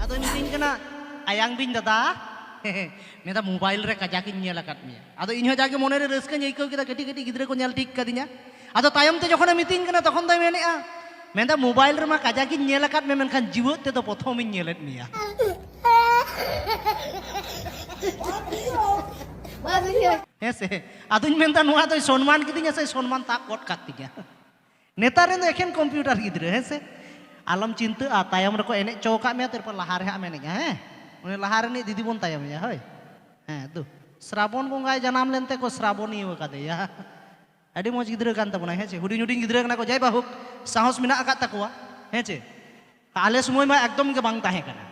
ᱟᱫᱚ ᱢᱤᱛᱟᱹᱧ ᱠᱟᱱᱟ ᱟᱭᱟᱝ ᱵᱤᱧ ᱫᱟᱫᱟ ᱢᱮᱱᱫᱟ ᱢᱳᱵᱟᱭᱤᱞ ᱨᱮ ᱠᱟᱡᱟᱠ ᱤᱧ ᱧᱮᱞ ᱟᱠᱟᱫ ᱢᱮᱭᱟ ᱟᱫᱚ ᱤᱧ ᱦᱚᱸ ᱡᱟᱜᱮ ᱢᱚᱱᱮ ᱨᱮ ᱨᱟᱹᱥᱠᱟᱹᱧ ᱟᱹᱭᱠᱟᱹᱣ ᱠᱮᱫᱟ ᱠᱟᱹᱴᱤᱡ ᱠᱟᱹᱴᱤᱡ ᱜᱤᱫᱽᱨᱟᱹ ᱠᱚ ᱧᱮᱞ ᱴᱷᱤᱠ ᱠᱟᱫᱤᱧᱟ ᱟᱫᱚ ᱛᱟᱭᱚᱢ ᱛᱮ ᱡᱚᱠᱷᱚᱱᱮ ᱢᱤᱛᱟᱹᱧ ᱠᱟᱱᱟ ᱛᱚᱠᱷᱚᱱ ᱫᱚᱭ ᱢᱮᱱᱮᱜᱼᱟ ᱢᱮᱱᱫᱟ ᱢᱳᱵᱟᱭᱤᱞ ᱨᱮᱢᱟ ᱠᱟᱡᱟᱠ ᱤᱧ ᱧᱮᱞ ᱟᱠᱟᱫ ᱢᱮ ᱢᱮᱱᱠᱷᱟᱱ ᱡᱤᱣᱮᱫ ᱛᱮᱫᱚ ᱯᱨᱚᱛᱷᱚᱢ ᱤᱧ ᱧᱮᱞᱮᱫ ᱢᱮᱭᱟ ᱦᱮᱸ ᱥᱮ ᱟᱫᱚᱧ ᱢᱮᱱᱫᱟ ᱱᱚᱣᱟ ᱫᱚᱭ ᱥᱚᱱᱢᱟᱱ ᱠᱤᱫᱤᱧᱟ ᱥᱮ ᱥᱚᱱᱢᱟᱱ ᱛᱟᱵ ᱜᱚᱫ ᱠᱟᱫ ᱛᱤᱧᱟ ᱱᱮᱛᱟᱨ ᱨᱮᱱ ᱫᱚ ᱮᱠᱷᱮᱱ ᱠᱚᱢᱯᱤᱭᱩᱴᱟᱨ ᱜᱤᱫᱽᱨᱟᱹ ᱦᱮᱸ ᱥᱮ ᱟᱞᱚᱢ ᱪᱤᱱᱛᱟᱹᱜᱼᱟ ᱛᱟᱭᱚᱢ ᱨᱮᱠᱚ ᱮᱱᱮᱡ ᱪᱚ ᱟᱠᱟᱫ ᱢᱮᱭᱟ ᱛᱟᱨᱯᱚᱨ ᱞᱟᱦᱟ ᱨᱮ ᱦᱟᱸᱜ ᱮᱢ ᱮᱱᱮᱡᱟ ᱦᱮᱸ ᱩᱱᱤ ᱞᱟᱦᱟ ᱨᱤᱱᱤᱡ ᱫᱤᱫᱤ ᱵᱚᱱ ᱛᱟᱭᱚᱢᱮᱭᱟ ᱦᱳᱭ ᱦᱮᱸ ᱫᱩ ᱥᱨᱟᱵᱚᱱ ᱵᱚᱸᱜᱟᱭ ᱡᱟᱱᱟᱢ ᱞᱮᱱ ᱛᱮᱠᱚ ᱥᱨᱟᱵᱚᱱᱤᱭᱟᱹ ᱟᱠᱟᱫᱮᱭᱟ ᱟᱹᱰᱤ ᱢᱚᱡᱽ ᱜᱤᱫᱽᱨᱟᱹ ᱠᱟᱱ ᱛᱟᱵᱚᱱᱟᱭ ᱦᱮᱸ ᱪᱮ ᱦᱩᱰᱤᱧ ᱦᱩᱰᱤᱧ ᱜᱤᱫᱽᱨᱟᱹ ᱠᱟᱱᱟ ᱠᱚ ᱡᱟᱭ ᱵᱟᱦᱩᱠ ᱥᱟᱦᱚᱥ ᱢᱮᱱᱟᱜ ᱟᱠᱟᱫ ᱛᱟᱠᱚᱣᱟ ᱦᱮᱸ ᱪᱮ ᱟᱞᱮ ᱥᱚᱢᱚᱭ ᱢᱟ ᱮᱠᱫᱚᱢ ᱜᱮ ᱵᱟᱝ ᱛᱟᱦᱮᱸ ᱠᱟᱱᱟ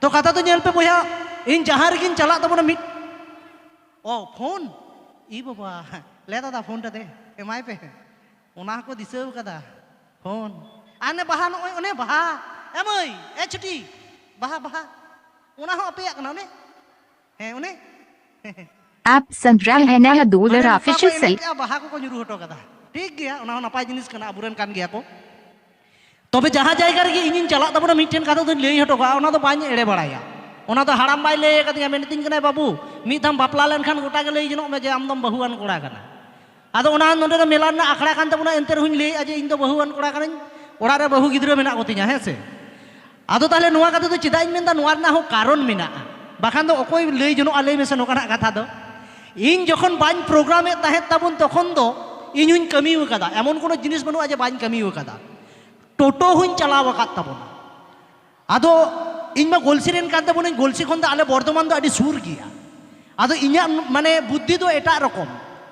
ᱛᱚ ᱠᱟᱛᱷᱟ ᱫᱚ ᱧᱮᱞ ᱯᱮ ᱵᱚᱭᱦᱟ ᱤᱧ ᱡᱟᱦᱟᱸ ᱨᱮᱜᱤᱧ ᱪᱟᱞᱟᱜ ᱛᱟᱵᱚᱱᱟ ᱢᱤᱫ ᱚ ᱯᱷᱳᱱ ᱤ ᱵᱟᱵᱟ ᱞᱮ ᱫᱟᱫᱟ ᱯᱷᱳᱱ ᱴᱟᱫᱮ ᱮᱢᱟᱭ ᱯᱮ ᱚᱱᱟ ᱦᱚᱸᱠᱚ ᱫᱤᱥᱟᱹ ᱟᱠᱟᱫᱟ ᱯᱷᱳᱱ ᱟᱨ ᱚᱱᱮ ᱵᱟᱦᱟ ᱱᱚᱜᱼᱚᱭ ᱚᱱᱮ ᱵᱟᱦᱟ ᱮ ᱢᱟᱹᱭ ᱮ ᱪᱷᱩᱴᱤ ᱵᱟᱦᱟ ᱵᱟᱦᱟ ᱚᱱᱟ ᱦᱚᱸ ᱟᱯᱮᱭᱟᱜ ᱠᱟᱱᱟ ᱚᱱᱮ ᱦᱮᱸ ᱚᱱᱮ ᱟᱯ ᱥᱟᱱᱫᱨᱟᱞ ᱦᱮᱱᱟᱭᱟ ᱫᱩᱞᱟᱨ ᱚᱯᱷᱤᱥᱤᱭᱟᱞ ᱵᱟᱦᱟ ᱠᱚᱠᱚ ᱧᱩᱨᱩ ᱦᱚᱴᱚ ᱠᱟᱫᱟ ᱴᱷᱤᱠ ᱜᱮᱭᱟ ᱚᱱᱟ ᱦᱚᱸ ᱱᱟᱯᱟᱭ ᱡᱤᱱᱤᱥ ᱠᱟᱱᱟ ᱟᱵᱚᱨᱮᱱ ᱠᱟᱱ ᱜᱮᱭᱟ ᱠᱚ ᱛᱚᱵᱮ ᱡᱟᱦᱟᱸ ᱡᱟᱭᱜᱟ ᱨᱮᱜᱮ ᱤᱧᱤᱧ ᱪᱟᱞᱟᱜ ᱛᱟᱵᱚᱱᱟ ᱢᱤᱫᱴᱮᱱ ᱠᱟᱛᱷᱟ ᱫᱚᱧ ᱞᱟᱹᱭ ᱦᱚᱴᱚ ᱠᱟᱜᱼᱟ ᱚᱱᱟ ᱫᱚ ᱵᱟᱹᱧ ᱮᱲᱮ ᱵᱟᱲᱟᱭᱟ ᱚᱱᱟ ᱫᱚ ᱦᱟᱲᱟᱢ ᱵᱟᱭ ᱞᱟᱹᱭ ᱟᱠᱟᱫᱤᱧᱟ ᱢᱮᱱᱮᱫᱤᱧ ᱠᱟᱱᱟᱭ ᱵᱟᱹᱵᱩ ᱢᱤᱫ ᱫᱷᱟᱣ ᱵᱟᱯᱞᱟ ᱞᱮᱱᱠᱷᱟᱱ ᱜᱚᱴᱟ ᱜᱮ ᱞᱟᱹᱭ ᱡᱚᱱᱚᱜ ᱢᱮ ᱡᱮ ᱟᱢ ᱫᱚᱢ ᱵᱟᱹᱦᱩᱣᱟᱱ ᱠᱚᱲᱟ ᱠᱟᱱᱟ ᱟᱫᱚ ᱚᱱᱟ ᱱᱚᱰᱮ ᱫᱚ ᱢᱮᱞᱟ ᱨᱮᱱᱟᱜ ᱟᱠᱷᱲᱟ ᱠᱟᱱ ᱛᱟᱵᱚᱱᱟ ᱮᱱᱛᱮ ᱨᱮᱦᱚᱸᱧ ᱞᱟᱹᱭᱮᱫᱼᱟ ᱡᱮ ᱤᱧ ᱫᱚ ᱵᱟᱹᱦᱩᱣᱟᱱ ᱠᱚᱲᱟ ᱠᱟᱹᱱᱟᱹᱧ ᱚᱲᱟᱜ ᱨᱮ ᱵᱟᱹᱦᱩ ᱜᱤᱫᱽᱨᱟᱹ ᱢᱮᱱᱟᱜ ᱠᱚᱛᱤᱧᱟ ᱦᱮᱸ ᱥᱮ ᱟᱫᱚ ᱛᱟᱦᱞᱮ ᱱᱚᱣᱟ ᱠᱟᱛᱷᱟ ᱫᱚ ᱪᱮᱫᱟᱜ ᱤᱧ ᱢᱮᱱᱫᱟ ᱱᱚᱣᱟ ᱨᱮᱱᱟᱜ ᱦᱚᱸ ᱠᱟᱨᱚᱱ ᱢᱮᱱᱟᱜᱼᱟ ᱵᱟᱠᱷᱟᱱ ᱫᱚ ᱚᱠᱚᱭ ᱞᱟᱹᱭ ᱡᱚᱱᱚᱜᱼᱟ ᱞᱟᱹᱭ ᱢᱮᱥᱮ ᱱᱚᱝᱠᱟᱱᱟᱜ ᱠᱟᱛᱷᱟ ᱫᱚ ᱤᱧ ᱡᱚᱠᱷᱚᱱ ᱵᱟᱹᱧ ᱯᱨᱳᱜᱨᱟᱢᱮᱫ ᱛᱟᱦᱮᱸᱫ ᱛᱟᱵᱚᱱ ᱛᱚᱠᱷᱚᱱ ᱫᱚ ᱤᱧ ᱦᱚᱧ ᱠᱟᱹᱢᱤ ᱟᱠᱟᱫᱟ ᱮᱢᱚᱱ ᱠᱳᱱᱳ ᱡᱤᱱᱤᱥ ᱵᱟᱹᱱᱩᱜᱼᱟ ᱡᱮ ᱵᱟᱹᱧ ᱠᱟᱹᱢᱤ ᱟᱠᱟᱫᱟ ᱴᱳᱴᱳ ᱦᱚᱧ ᱪᱟᱞᱟᱣ ᱟᱠᱟᱫ ᱛᱟᱵᱚᱱᱟ ᱟᱫᱚ ᱤᱧ ᱢᱟ ᱜᱚᱞᱥᱤ ᱨᱮᱱ ᱠᱟᱱ ᱛᱟᱵᱚᱱᱟᱹᱧ ᱜᱚᱞᱥᱤ ᱠᱷᱚᱱ ᱫᱚ ᱟᱞᱮ ᱵᱚᱨᱫᱷᱚᱢᱟᱱ ᱫᱚ ᱟᱹᱰᱤ ᱥᱩᱨ ᱜᱮᱭᱟ ᱟᱫᱚ ᱤᱧᱟᱹᱜ ᱢᱟᱱᱮ ᱵᱩᱫᱽᱫᱷᱤ ᱫᱚ ᱮᱴᱟᱜ ᱨᱚᱠᱚᱢ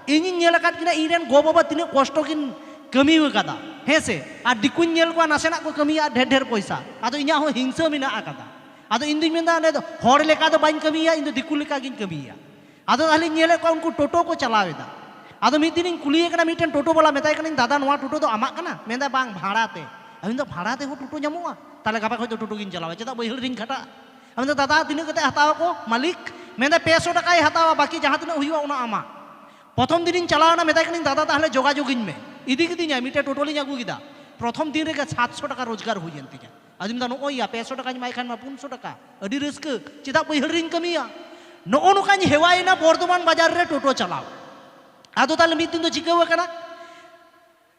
ᱤᱧᱤᱧ ᱧᱮᱞ ᱟᱠᱟᱫ ᱠᱤᱱᱟ ᱤᱧ ᱨᱮᱱ ᱜᱚ ᱵᱟᱵᱟ ᱛᱤᱱᱟᱹᱜ ᱠᱚᱥᱴᱚ ᱠᱤᱱ ᱠᱟᱹᱢᱤ ᱟᱠᱟᱫᱟ ᱦᱮᱸ ᱥᱮ ᱟᱨ ᱫᱤᱠᱩᱧ ᱧᱮᱞ ᱠᱚᱣᱟ ᱱᱟᱥᱮᱱᱟᱜ ᱠᱚ ᱠᱟᱹᱢᱤᱭᱟ ᱟᱨ ᱰᱷᱮᱨ ᱰᱷᱮᱨ ᱯᱚᱭᱥᱟ ᱟᱫᱚ ᱤᱧᱟᱹᱜ ᱦᱚᱸ ᱦᱤᱝᱥᱟᱹ ᱢᱮᱱᱟᱜ ᱟᱠᱟᱫᱟ ᱟᱫᱚ ᱤᱧ ᱫᱩᱧ ᱢᱮᱱᱫᱟ ᱚᱸᱰᱮ ᱫᱚ ᱦᱚᱲ ᱞᱮᱠᱟ ᱫᱚ ᱵᱟᱹᱧ ᱠᱟᱹᱢᱤᱭᱟ ᱤᱧ ᱫᱚ ᱫᱤᱠᱩ ᱞᱮᱠᱟ ᱜᱤᱧ ᱠᱟᱹᱢᱤᱭᱟ ᱟᱫᱚ ᱛᱟᱦᱞᱮᱧ ᱧᱮᱞᱮᱫ ᱠᱚᱣᱟ ᱩᱱᱠᱩ ᱴᱳᱴᱳ ᱠᱚ ᱪᱟᱞᱟᱣ ᱮᱫᱟ ᱟᱫᱚ ᱢᱤᱫ ᱫᱤᱱᱤᱧ ᱠᱩᱞᱤᱭᱮ ᱠᱟᱱᱟ ᱢᱤᱫᱴᱮᱱ ᱴᱳᱴᱳ ᱵᱟᱞᱟ ᱢᱮᱛᱟᱭ ᱠᱟᱹᱱᱟᱹᱧ ᱫᱟᱫᱟ ᱱᱚᱣᱟ ᱴᱳᱴᱳ ᱫᱚ ᱟᱢᱟᱜ ᱠᱟᱱᱟ ᱢᱮᱱᱫᱟ ᱵᱟᱝ ᱵᱷᱟᱲᱟ ᱛᱮ ᱟᱫᱚ ᱢᱮᱱᱫᱟ ᱵᱷᱟᱲᱟ ᱛᱮᱦᱚᱸ ᱴᱳᱴᱳ ᱧᱟᱢᱚᱜᱼᱟ ᱛᱟᱦᱞᱮ ᱜᱟᱯᱟ ᱠᱷᱚᱱ ᱫᱚ ᱴᱳᱴᱳ ᱜᱤᱧ ᱪᱟᱞᱟᱣᱟ ᱪᱮᱫᱟᱜ ᱵᱟᱹᱭᱦᱟᱹᱲ ᱨᱤᱧ ᱠᱷᱟᱴᱟᱜᱼᱟ ᱟᱢᱫᱚ ᱫᱟᱫᱟ ᱛᱤᱱᱟᱹᱜ ᱠᱟᱛᱮ ᱦᱟᱛᱟᱣ ᱟᱠᱚ ᱢᱟᱹᱞᱤᱠ ᱢᱮᱱᱫᱟ ᱯᱮ ᱥᱚ ᱴᱟᱠᱟᱭ ᱦᱟᱛᱟᱣᱟ ᱵᱟᱹᱠᱤ ᱡᱟᱦᱟᱸ ᱛᱤᱱᱟᱹᱜ ᱦᱩᱭᱩᱜᱼᱟ ᱚᱱᱟ ᱟᱢᱟᱜ ᱯᱨᱚᱛᱷᱚᱢ ᱫᱤᱱᱤᱧ ᱪᱟᱞᱟᱣᱱᱟ ᱢᱮᱛᱟᱭ ᱠᱟᱹᱱᱟᱹᱧ ᱫᱟᱫᱟ ᱛᱟᱦᱞᱮ ᱡᱳᱜᱟᱡᱳᱜᱤᱧ ᱢᱮ ᱤᱫᱤ ᱠᱤᱫᱤᱧᱟᱭ ᱢᱤᱫᱴᱮᱱ ᱴᱳᱴᱳᱞᱤᱧ ᱟᱹᱜᱩ ᱠᱮᱫᱟ ᱯᱨᱚᱛᱷᱚᱢ ᱫᱤᱱ ᱨᱮᱜᱮ ᱥᱟᱛᱥᱚ ᱴᱟᱠᱟ ᱨᱳᱡᱽᱜᱟᱨ ᱦᱩᱭᱮᱱ ᱛᱤᱧᱟ ᱟᱫᱚᱧ ᱢᱮᱱᱫᱟ ᱱᱚᱜᱼᱚᱭ ᱭᱟ ᱯᱮ ᱥᱚ ᱴᱟᱠᱟᱧ ᱮᱢᱟᱭ ᱠᱷᱟᱱ ᱢᱟ ᱯᱩᱱ ᱥᱚ ᱴᱟᱠᱟ ᱟᱹᱰᱤ ᱨᱟᱹᱥᱠᱟᱹ ᱪᱮᱫᱟᱜ ᱵᱟᱹᱭᱦᱟᱹᱲ ᱨᱤᱧ ᱠᱟᱹᱢᱤᱭᱟ ᱱᱚᱜᱼᱚ ᱱᱚᱝᱠᱟᱧ ᱦᱮᱣᱟᱭᱮᱱᱟ ᱵᱚᱨᱫᱷᱚᱢᱟᱱ ᱵᱟᱡᱟᱨ ᱨᱮ ᱴᱳᱴᱳ ᱪᱟᱞᱟᱣ ᱟᱫᱚ ᱛᱟᱦᱞᱮ ᱢᱤᱫ ᱫᱤᱱ ᱫᱚ ᱪᱤᱠᱟᱹᱣ ᱟᱠᱟᱱᱟ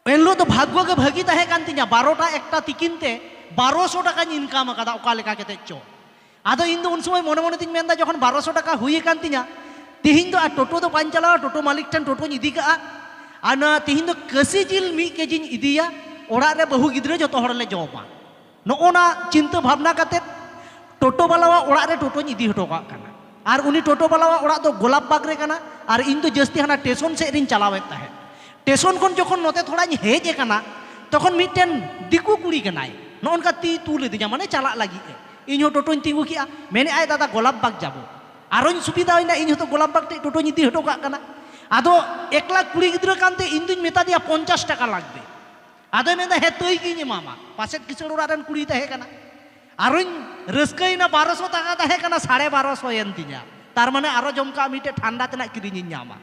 ᱮᱱᱦᱤᱞᱳᱜ ᱫᱚ ᱵᱷᱟᱜᱽᱜᱚ ᱜᱮ ᱵᱷᱟᱹᱜᱤ ᱛᱟᱦᱮᱸ ᱠᱟᱱ ᱛᱤᱧᱟ ᱵᱟᱨᱚᱴᱟ ᱮᱠᱴᱟ ᱛᱤᱠᱤᱱ ᱛᱮ ᱵᱟᱨᱚᱥᱚ ᱴᱟᱠᱟᱧ ᱤᱱᱠᱟᱢ ᱟᱠᱟᱫᱟ ᱚᱠᱟ ᱞᱮᱠᱟ ᱠᱟᱛᱮ ᱪᱚ ᱟᱫᱚ ᱤᱧ ᱫᱚ ᱩᱱ ᱥᱚᱢᱚᱭ ᱢᱚᱱᱮ ᱢᱚᱱᱮ ᱛᱤᱧ ᱢᱮᱱᱫᱟ ᱡᱚᱠᱷᱚᱱ ᱵᱟᱨᱚᱥᱚ ᱴᱟᱠᱟ ᱦᱩᱭ ᱟᱠᱟᱱ ᱛᱤᱧᱟ ᱛᱤᱦᱤᱧ ᱫᱚ ᱟᱨ ᱴᱳᱴᱳ ᱫᱚ ᱵᱟᱹᱧ ᱪᱟᱞᱟᱣᱟ ᱴᱳᱴᱳ ᱢᱟᱹᱞᱤᱠ ᱴᱷᱮᱱ ᱴᱳᱴᱳᱧ ᱤᱫᱤ ᱠᱟᱜᱼᱟ ᱟᱨ ᱱᱚᱣᱟ ᱛᱤᱦᱤᱧ ᱫᱚ ᱠᱟᱹᱥᱤ ᱡᱤᱞ ᱢᱤᱫ ᱠᱮᱡᱤᱧ ᱤᱫᱤᱭᱟ ᱚᱲᱟᱜ ᱨᱮ ᱵᱟᱹᱦᱩ ᱜᱤᱫᱽᱨᱟᱹ ᱡᱚᱛᱚ ᱦᱚᱲ ᱞᱮ ᱡᱚᱢᱟ ᱱᱚᱜᱼᱚ ᱱᱟ ᱪᱤᱱᱛᱟᱹ ᱵᱷᱟᱵᱽᱱᱟ ᱠᱟᱛᱮᱫ ᱴᱳᱴᱳ ᱵᱟᱞᱟᱣᱟᱜ ᱚᱲᱟᱜ ᱨᱮ ᱴᱳᱴᱳᱧ ᱤᱫᱤ ᱦᱚᱴᱚ ᱠᱟᱜ ᱠᱟᱱᱟ ᱟᱨ ᱩᱱᱤ ᱴᱳᱴᱳ ᱵᱟᱞᱟᱣᱟᱜ ᱚᱲᱟᱜ ᱫᱚ ᱜᱳᱞᱟᱯ ᱵᱟᱜᱽ ᱨᱮ ᱠᱟᱱᱟ ᱟᱨ ᱤᱧ ᱫᱚ ᱡᱟᱹᱥᱛᱤ ᱦᱟᱱᱟ ᱴᱮᱥᱚᱱ ᱥᱮᱫ ᱨᱤᱧ ᱪᱟᱞᱟᱣᱮᱫ ᱛᱟᱦᱮᱸᱫ ᱴᱮᱥᱚᱱ ᱠᱷᱚᱱ ᱡᱚᱠᱷᱚᱱ ᱱᱚᱛᱮ ᱛᱷᱚᱲᱟᱧ ᱦᱮᱡ ᱟᱠᱟᱱᱟ ᱛᱚᱠᱷᱚᱱ ᱢᱤᱫᱴᱮᱱ ᱫᱤᱠᱩ ᱠᱩᱲᱤ ᱠᱟᱱᱟᱭ ᱱᱚᱜᱼᱚ ᱱᱚᱝᱠᱟ ᱛᱤ ᱛᱩᱞ ᱤᱫᱤᱧᱟ ᱢᱟᱱᱮ ᱪᱟᱞᱟᱜ ᱞᱟᱹᱜᱤᱫ ᱮ ᱤᱧ ᱦᱚᱸ ᱴᱳᱴᱳᱧ ᱛᱤᱸᱜᱩ ᱠᱮᱜᱼᱟ ᱢᱮᱱᱮᱫ ᱟᱭ ᱫᱟᱫᱟ ᱜᱳᱞᱟᱯ ᱵᱟᱜᱽ ᱡᱟᱵᱚ ᱟᱨᱚᱧ ᱥᱩᱵᱤᱫᱷᱟᱭᱮᱱᱟ ᱤᱧ ᱦᱚᱸᱛᱚ ᱜᱳᱞᱟᱯ ᱵᱟᱜᱽ ᱴᱷᱮᱡ ᱴᱳᱴᱳᱧ ᱤᱫᱤ ᱦᱚᱴᱚ ᱠᱟᱜ ᱠᱟᱱᱟ ᱟᱫᱚ ᱮᱠᱞᱟ ᱠᱩᱲᱤ ᱜᱤᱫᱽᱨᱟᱹ ᱠᱟᱱᱛᱮ ᱤᱧ ᱫᱩᱧ ᱢᱮᱛᱟ ᱫᱮᱭᱟ ᱯᱚᱧᱪᱟᱥ ᱴᱟᱠᱟ ᱞᱟᱜᱽᱵᱮ ᱟᱫᱚᱭ ᱢᱮᱱᱫᱟ ᱦᱮᱸ ᱛᱟᱹᱭ ᱜᱤᱧ ᱮᱢᱟᱢᱟ ᱯᱟᱥᱮᱫ ᱠᱤᱥᱟᱹᱬ ᱚᱲᱟᱜ ᱨᱮᱱ ᱠᱩᱲᱤᱭ ᱛᱟᱦᱮᱸ ᱠᱟᱱᱟ ᱟᱨᱚᱧ ᱨᱟᱹᱥᱠᱟᱹᱭᱮᱱᱟ ᱵᱟᱨᱚᱥᱚ ᱴᱟᱠᱟ ᱛᱟᱦᱮᱸ ᱠᱟᱱᱟ ᱥᱟᱲᱮ ᱵᱟᱨᱚᱥᱚ ᱮᱱ ᱛᱤᱧᱟ ᱛᱟᱨ ᱢᱟᱱᱮ ᱟᱨᱚ ᱡᱚᱢ ᱠᱟᱜ ᱢᱤᱫᱴᱮᱡ ᱴᱷᱟᱱᱰᱟ ᱛᱮᱱᱟᱜ ᱠᱤᱨᱤᱧᱤᱧ ᱧᱟᱢᱟ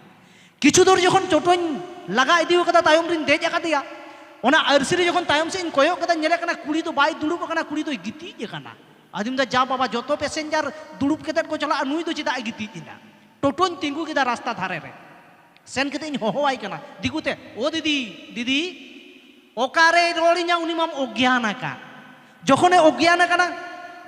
ᱠᱤᱪᱷᱩ ᱫᱩᱨ ᱡᱚᱠᱷᱚᱱ ᱪᱚᱴᱚᱧ ᱞᱟᱜᱟ ᱤᱫᱤ ᱟᱠᱟᱫᱟ ᱛᱟᱭᱚᱢ ᱨᱤᱧ ᱫᱮᱡ ᱟᱠᱟᱫᱮᱭᱟ ᱚᱱᱟ ᱟᱹᱨᱥᱤ ᱨᱮ ᱡᱚᱠᱷᱚᱱ ᱛᱟᱭᱚᱢ ᱥᱮᱫ ᱤᱧ ᱠᱚᱭᱚᱜ ᱠᱮᱫᱟ ᱧᱮᱞᱮ ᱠᱟᱱᱟ ᱠᱩᱲᱤ ᱫᱚ ᱵᱟᱭ ᱫᱩᱲᱩᱵ ᱟᱠᱟᱱᱟ ᱠᱩᱲᱤ ᱫᱚᱭ ᱜᱤᱛᱤᱡ ᱟᱠᱟᱱᱟ ᱟᱫᱚᱧ ᱢᱮᱱᱫᱟ ᱡᱟ ᱵᱟᱵᱟ ᱡᱚᱛᱚ ᱯᱮᱥᱮᱧᱡᱟᱨ ᱫᱩᱲᱩᱵ ᱠᱟᱛᱮᱫ ᱠᱚ ᱪᱟᱞᱟᱜᱼᱟ ᱱᱩᱭ ᱫᱚ ᱪᱮᱫᱟᱜ ᱮ ᱜᱤᱛᱤᱡ ᱮᱱᱟ ᱴᱳᱴᱳᱧ ᱛᱤᱸᱜᱩ ᱠᱮᱫᱟ ᱨᱟᱥᱛᱟ ᱫᱷᱟᱨᱮ ᱨᱮ ᱥᱮᱱ ᱠᱟᱛᱮ ᱤᱧ ᱦᱚᱦᱚᱣᱟᱭ ᱠᱟᱱᱟ ᱫᱤᱠᱩ ᱛᱮ ᱳ ᱫᱤᱫᱤ ᱫᱤᱫᱤ ᱚᱠᱟᱨᱮ ᱨᱚᱲᱤᱧᱟ ᱩᱱᱤ ᱢᱟᱢ ᱚᱜᱽᱜᱭᱟᱱ ᱟᱠᱟᱫ ᱡᱚᱠᱷᱚᱱᱮ ᱚᱜᱽᱜᱭᱟᱱ ᱟᱠᱟᱱᱟ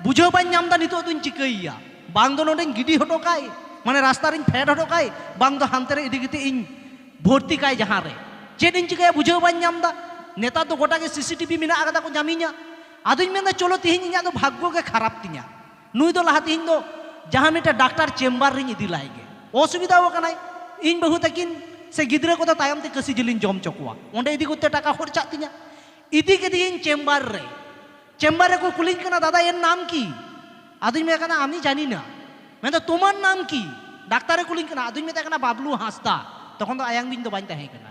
ᱵᱩᱡᱷᱟᱹᱣ ᱵᱟᱹᱧ ᱧᱟᱢ ᱮᱫᱟ ᱱᱤᱛᱚᱜ ᱫᱚᱧ ᱪᱤᱠᱟᱹᱭᱮᱭᱟ ᱵᱟᱝ ᱫᱚ ᱱᱚᱰᱮᱧ ᱜᱤᱰᱤ ᱦᱚᱴᱚ ᱠᱟᱭ ᱢᱟᱱᱮ ᱨᱟᱥᱛᱟ ᱨᱤᱧ ᱯᱷᱮᱰ ᱦᱚᱴᱚ ᱠᱟᱭ ᱵᱟᱝ ᱫᱚ ᱦᱟᱱᱛᱮ ᱨᱮ ᱤᱫᱤ ᱠᱟᱛᱮ ᱤᱧ ᱵᱷᱚᱨᱛᱤ ᱠᱟᱭ ᱡᱟᱦᱟᱸ ᱨᱮ ᱪᱮᱫ ᱤᱧ ᱪᱤᱠᱟᱹᱭᱟ ᱵᱩᱡᱷᱟᱹᱣ ᱵᱟᱹᱧ ᱧᱟᱢ ᱮᱫᱟ ᱱᱮᱛᱟᱨ ᱫᱚ ᱜᱚᱴᱟ ᱜᱮ ᱥᱤᱥᱤᱴᱤᱵᱷᱤ ᱢᱮᱱᱟᱜ ᱟᱠᱟᱫᱟ ᱠᱚ ᱧᱟᱢᱤᱧᱟ ᱟᱫᱚᱧ ᱢᱮᱱᱫᱟ ᱪᱚᱞᱚ ᱛᱮᱦᱮᱧ ᱤᱧᱟᱹᱜ ᱫᱚ ᱵᱷᱟᱜᱽᱜᱚ ᱜᱮ ᱠᱷᱟᱨᱟᱯ ᱛᱤᱧᱟᱹ ᱱᱩᱭ ᱫᱚ ᱞᱟᱦᱟ ᱛᱮᱦᱮᱧ ᱫᱚ ᱡᱟᱦᱟᱸ ᱢᱤᱫᱴᱮᱱ ᱰᱟᱠᱛᱟᱨ ᱪᱮᱢᱵᱟᱨ ᱨᱤᱧ ᱤᱫᱤ ᱞᱟᱭ ᱜᱮ ᱚᱥᱩᱵᱤᱫᱷᱟ ᱟᱠᱟᱱᱟᱭ ᱤᱧ ᱵᱟᱹᱦᱩ ᱛᱟᱹᱠᱤᱱ ᱥᱮ ᱜᱤᱫᱽᱨᱟᱹ ᱠᱚᱫᱚ ᱛᱟᱭᱚᱢ ᱛᱮ ᱠᱟᱹᱥᱤ ᱡᱤᱞᱤᱧ ᱡᱚᱢ ᱦᱚᱪᱚ ᱠᱚᱣᱟ ᱚᱸᱰᱮ ᱤᱫᱤ ᱠᱚᱛᱮ ᱴᱟᱠᱟ ᱠᱷᱚᱨᱪᱟᱜ ᱛᱤᱧᱟ ᱤᱫᱤ ᱠᱮᱫᱮᱭᱟᱹᱧ ᱪᱮᱢᱵᱟᱨ ᱨᱮ ᱪᱮᱢᱵᱟᱨ ᱨᱮᱠᱚ ᱠᱩᱞᱤᱧ ᱠᱟᱱᱟ ᱫᱟᱫᱟ ᱮᱱ ᱱᱟᱢ ᱠᱤ ᱟᱫᱚᱧ ᱢᱮᱛᱟᱭ ᱠᱟᱱᱟ ᱟᱢᱤ ᱡᱟᱹᱱᱤ ᱱᱟ ᱢᱮᱱᱫᱟ ᱛᱳᱢᱟᱨ ᱱᱟᱢ ᱠᱤ ᱰᱟᱠᱛᱟᱨᱮ ᱠᱩᱞᱤᱧ ᱠᱟᱱᱟ ᱟᱫᱚᱧ ᱢᱮᱛᱟᱭ ᱠᱟᱱᱟ ᱵᱟᱵᱞᱩ ᱦᱟᱸᱥᱫᱟ ᱛᱚᱠᱷᱚᱱ ᱫᱚ ᱟᱭᱟᱝ ᱵᱤᱧ ᱫᱚ ᱵᱟᱹᱧ ᱛᱟᱦᱮᱸ ᱠᱟᱱᱟ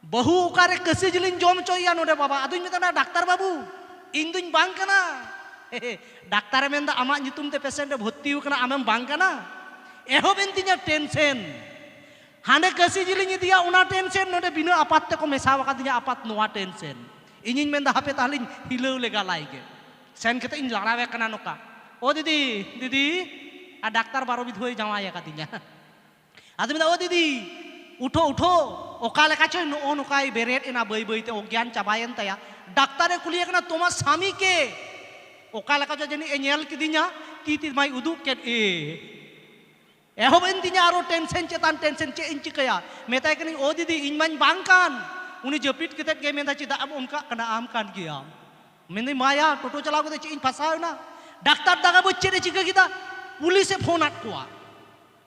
ᱵᱟᱹᱦᱩ ᱚᱠᱟᱨᱮ ᱠᱟᱹᱥᱤ ᱡᱤᱞᱤᱧ ᱡᱚᱢ ᱦᱚᱪᱚᱭᱮᱭᱟ ᱱᱚᱰᱮ ᱵᱟᱵᱟ ᱟᱫᱚᱧ ᱢᱮᱛᱟᱜ ᱠᱟᱱᱟ ᱰᱟᱠᱛᱟᱨ ᱵᱟᱹᱵᱩ ᱤᱧ ᱫᱩᱧ ᱵᱟᱝ ᱠᱟᱱᱟ ᱰᱟᱠᱛᱟᱨᱮ ᱢᱮᱱᱫᱟ ᱟᱢᱟᱜ ᱧᱩᱛᱩᱢ ᱛᱮ ᱯᱮᱥᱮᱱᱴ ᱮ ᱵᱷᱚᱨᱛᱤ ᱟᱠᱟᱱᱟ ᱟᱢᱮᱢ ᱵᱟᱝ ᱠᱟᱱᱟ ᱮᱦᱚᱵ ᱮᱱ ᱛᱤᱧᱟ ᱴᱮᱱᱥᱮᱱ ᱦᱟᱸᱰᱮ ᱠᱟᱹᱥᱤ ᱡᱤᱞᱤᱧ ᱤᱫᱤᱭᱟ ᱚᱱᱟ ᱴᱮᱱᱥᱮᱱ ᱱᱚᱰᱮ ᱵᱤᱱᱟᱹ ᱟᱯᱟᱛ ᱛᱮᱠᱚ ᱢᱮᱥᱟ ᱟᱠᱟᱫᱤᱧᱟ ᱟᱯᱟᱛ ᱱᱚᱣᱟ ᱴᱮᱱᱥᱮᱱ ᱤᱧᱤᱧ ᱢᱮᱱᱫᱟ ᱦᱟᱯᱮ ᱛᱟᱦᱞᱮᱧ ᱦᱤᱞᱟᱹᱣ ᱞᱮᱜᱟ ᱞᱟᱭ ᱜᱮ ᱥᱮᱱ ᱠᱟᱛᱮ ᱤᱧ ᱞᱟᱲᱟᱣᱮ ᱠᱟᱱᱟ ᱱᱚᱠᱟ ᱚ ᱫᱤᱫᱤ ᱫᱤᱫᱤ ᱟᱨ ᱰᱟᱠᱛᱟᱨ ᱵᱟᱨᱚ ᱵᱤᱫᱷᱩᱭ ᱡᱟᱶᱟᱭ ᱟᱠᱟᱫᱤᱧᱟ ᱟᱫᱚ ᱢᱮᱱᱫᱟ ᱳ ᱫᱤᱫᱤ ᱩᱴᱷᱳ ᱩᱴᱷᱳ ᱚᱠᱟ ᱞᱮᱠᱟ ᱪᱚᱭ ᱱᱚᱜᱼᱚ ᱱᱚᱝᱠᱟᱭ ᱵᱮᱨᱮᱫ ᱮᱱᱟ ᱵᱟᱹᱭ ᱵᱟᱹᱭ ᱛᱮ ᱚᱜᱽᱜᱭᱟᱱ ᱪᱟᱵᱟᱭᱮᱱ ᱛᱟᱭᱟ ᱰᱟᱠᱛᱟᱨᱮ ᱠᱩᱞᱤᱭᱮ ᱠᱟᱱᱟ ᱛᱳᱢᱟᱨ ᱥᱟᱢᱤ ᱠᱮ ᱚᱠᱟ ᱞᱮᱠᱟ ᱪᱚ ᱡᱟᱹᱱᱤᱡ ᱮ ᱧᱮᱞ ᱠᱤᱫᱤᱧᱟ ᱛᱤ ᱛᱤ ᱢᱟᱭ ᱩᱫᱩᱜ ᱠᱮᱫ ᱮ ᱮᱦᱚᱵ ᱮᱱ ᱛᱤᱧᱟ ᱟᱨᱚ ᱴᱮᱱᱥᱮᱱ ᱪᱮᱛᱟᱱ ᱴᱮᱱᱥᱮᱱ ᱪᱮᱫ ᱤᱧ ᱪᱤᱠᱟᱹᱭᱟ ᱢᱮᱛᱟᱭ ᱠᱟᱹᱱᱟᱹᱧ ᱳ ᱫᱤᱫᱤ ᱤᱧ ᱢᱟᱧ ᱵᱟᱝ ᱠᱟᱱ ᱩᱱᱤ ᱡᱟᱹᱯᱤᱫ ᱠᱟᱛᱮᱫ ᱜᱮ ᱢᱮᱱᱫᱟ ᱪᱮᱫᱟᱜ ᱮᱢ ᱚᱱᱠᱟᱜ ᱠᱟᱱᱟ ᱟᱢ ᱠᱟᱱ ᱜᱮᱭᱟᱢ ᱢᱮᱱᱫᱟᱹᱧ ᱢᱟᱭᱟ ᱴᱳᱴᱳ ᱪᱟᱞᱟᱣ ᱠᱟᱛᱮ ᱪᱮᱫ ᱤᱧ ᱯᱷᱟᱥᱟᱣ ᱮᱱᱟ ᱰᱟᱠᱛᱟᱨ ᱫᱟᱜᱟ ᱵᱩᱡᱽ ᱪᱮᱫ ᱮ ᱪᱤᱠᱟᱹ ᱠᱮᱫᱟ ᱯᱩᱞᱤᱥᱮ ᱯᱷᱳᱱ ᱟᱫ ᱠᱚᱣᱟ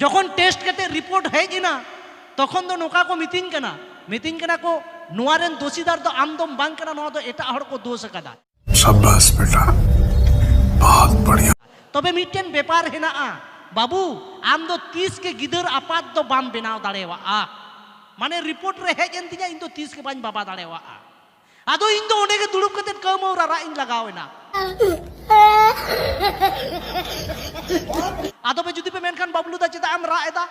ᱡᱚᱠᱷᱚᱱ ᱴᱮᱥᱴ ᱠᱟᱛᱮ ᱨᱤᱯᱳᱨᱴ ᱦᱮᱡ ᱮᱱᱟ ᱛᱚᱠᱷᱚᱱ ᱫᱚ ᱱᱚᱝᱠᱟ ᱠᱚ ᱢᱤᱛᱟᱹᱧ ᱠᱟᱱᱟ ᱢᱤᱛᱟᱹᱧ ᱠᱟᱱᱟ ᱠᱚ ᱱᱚᱣᱟ ᱨᱮᱱ ᱫᱳᱥᱤᱫᱟᱨ ᱫᱚ ᱟᱢ ᱫᱚᱢ ᱵᱟᱝ ᱠᱟᱱᱟ ᱱᱚᱣᱟ ᱫᱚ ᱮᱴᱟᱜ ᱦᱚᱲ ᱠᱚ ᱫᱳᱥ ᱟᱠᱟᱫᱟ ᱥᱟᱵᱟᱥ ᱵᱮᱴᱟ ᱵᱚᱦᱩᱛ ᱵᱟᱲᱤᱭᱟ ᱛᱚᱵᱮ ᱢᱤᱫᱴᱮᱱ ᱵᱮᱯᱟᱨ ᱦᱮᱱᱟᱜᱼᱟ ᱵᱟᱹᱵᱩ ᱟᱢ ᱫᱚ ᱛᱤᱥ ᱜᱮ ᱜᱤᱫᱟᱹᱨ ᱟᱯᱟᱛ ᱫᱚ ᱵᱟᱢ ᱵᱮᱱᱟᱣ ᱫᱟᱲᱮᱭᱟᱜᱼᱟ ᱢᱟᱱᱮ ᱨᱤᱯᱳᱨᱴ ᱨᱮ ᱦᱮᱡ ᱮᱱ ᱛᱤᱧᱟ ᱤᱧ ᱫᱚ ᱛᱤᱥ ᱜᱮ ᱵᱟᱹᱧ ᱵᱟᱵᱟ ᱫᱟᱲᱮᱭᱟᱜᱼᱟ ᱟᱫᱚ ᱤᱧ ᱫᱚ ᱚᱸᱰᱮ ᱜᱮ ᱫᱩᱲᱩᱵ ᱠᱟᱛᱮ ᱠᱟᱹᱢᱟᱹᱣ ᱨᱟᱨᱟᱜ ᱤᱧ ᱞᱟᱜᱟᱣ ᱮᱱᱟ ᱟᱫᱚ ᱯᱮ ᱡᱩᱫᱤ ᱯᱮ ᱢᱮᱱᱠᱷᱟᱱ ᱵᱟᱵᱞᱩ ᱫᱟ ᱪᱮᱫᱟᱜ ᱮᱢ ᱨᱟᱜ ᱮᱫᱟ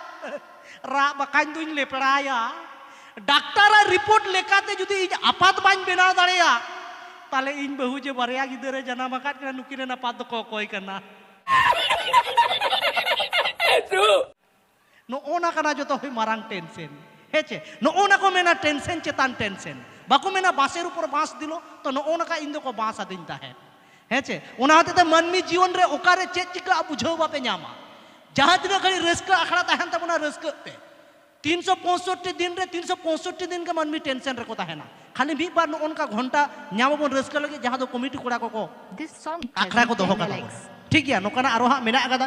ᱨᱟᱜ ᱵᱟᱠᱷᱟᱱ ᱫᱩᱧ ᱞᱮᱯᱲᱟᱭᱟ ᱰᱟᱠᱛᱟᱨᱟᱜ ᱨᱤᱯᱳᱨᱴ ᱞᱮᱠᱟᱛᱮ ᱡᱩᱫᱤ ᱤᱧ ᱟᱯᱟᱛ ᱵᱟᱹᱧ ᱵᱮᱱᱟᱣ ᱫᱟᱲᱮᱭᱟᱜ ᱛᱟᱦᱞᱮ ᱤᱧ ᱵᱟᱹᱦᱩ ᱡᱮ ᱵᱟᱨᱭᱟ ᱜᱤᱫᱟᱹᱨᱮ ᱡᱟᱱᱟᱢ ᱟᱠᱟᱫ ᱠᱤᱱᱟ ᱱᱩᱠᱤᱱ ᱨᱮᱱ ᱟᱯᱟᱛ ᱫᱚᱠᱚ ᱚᱠᱚᱭ ᱠᱟᱱᱟ ᱱᱚᱜᱼᱚ ᱱᱟ ᱠᱟᱱᱟ ᱡᱚᱛᱚ ᱠᱷᱚᱱ ᱢᱟᱨᱟᱝ ᱴᱮᱱᱥᱮᱱ ᱦᱮᱸ ᱪᱮ ᱱᱚᱜᱼᱚ ᱱᱟ ᱠᱚ ᱢᱮᱱᱟ ᱴᱮᱱᱥᱮᱱ ᱪᱮᱛᱟᱱ ᱴᱮᱱᱥᱮᱱ ᱵᱟᱠᱚ ᱢᱮᱱᱟ ᱵᱟᱥᱮᱨ ᱩᱯᱚᱨ ᱵᱟᱸᱥ ᱫᱤᱞᱚ ᱛᱚ ᱱᱚᱜᱼᱚ ᱱᱚᱝᱠᱟ ᱤᱧ ᱫᱚᱠᱚ ᱵᱟᱸᱥ ᱟᱹᱫᱤᱧ ᱛᱟᱦᱮᱸᱫ ᱦᱮᱸ ᱪᱮ ᱚᱱᱟ ᱦᱚᱛᱮᱡ ᱛᱮ ᱢᱟᱹᱱᱢᱤ ᱡᱤᱭᱚᱱ ᱨᱮ ᱚᱠᱟᱨᱮ ᱪᱮᱫ ᱪᱤᱠᱟᱹᱜᱼᱟ ᱵᱩᱡᱷᱟᱹᱣ ᱵᱟᱯᱮ ᱧᱟᱢᱟ ᱡᱟᱦᱟᱸ ᱛᱤᱱᱟᱹᱜ ᱜᱷᱟᱹᱲᱤᱡ ᱨᱟᱹᱥᱠᱟᱹ ᱟᱠᱷᱲᱟ ᱛᱟᱦᱮᱱ ᱛᱟᱵᱚᱱᱟ ᱨᱟᱹᱥᱠᱟᱹᱜ ᱯᱮ ᱛᱤᱱ ᱥᱚ ᱯᱚᱸᱭᱥᱚᱴᱴᱤ ᱫᱤᱱ ᱨᱮ ᱛᱤᱱ ᱥᱚ ᱯᱚᱸᱭᱥᱚᱴᱴᱤ ᱫᱤᱱ ᱜᱮ ᱢᱟᱹᱱᱢᱤ ᱴᱮᱱᱥᱮᱱ ᱨᱮᱠᱚ ᱛᱟᱦᱮᱱᱟ ᱠᱷᱟᱹᱞᱤ ᱢᱤᱫ ᱵᱟᱨ ᱱᱚᱜᱼᱚ ᱱᱚᱝᱠᱟ ᱜᱷᱚᱱᱴᱟ ᱧᱟᱢ ᱟᱵᱚᱱ ᱨᱟᱹᱥᱠᱟᱹ ᱞᱟᱹᱜᱤᱫ ᱡᱟᱦᱟᱸ ᱫᱚ ᱠᱚᱢᱤᱴᱤ ᱠᱚᱲᱟ ᱠᱚᱠᱚ ᱟᱠᱷᱲᱟ ᱠᱚ ᱫᱚᱦᱚ ᱠᱟᱛᱟ ᱵᱚᱱᱟ ᱴᱷᱤᱠ ᱜᱮᱭᱟ ᱱᱚᱝᱠᱟᱱᱟᱜ ᱟᱨᱚ ᱦᱟᱸᱜ ᱢᱮᱱᱟᱜ ᱟᱠᱟᱫᱟ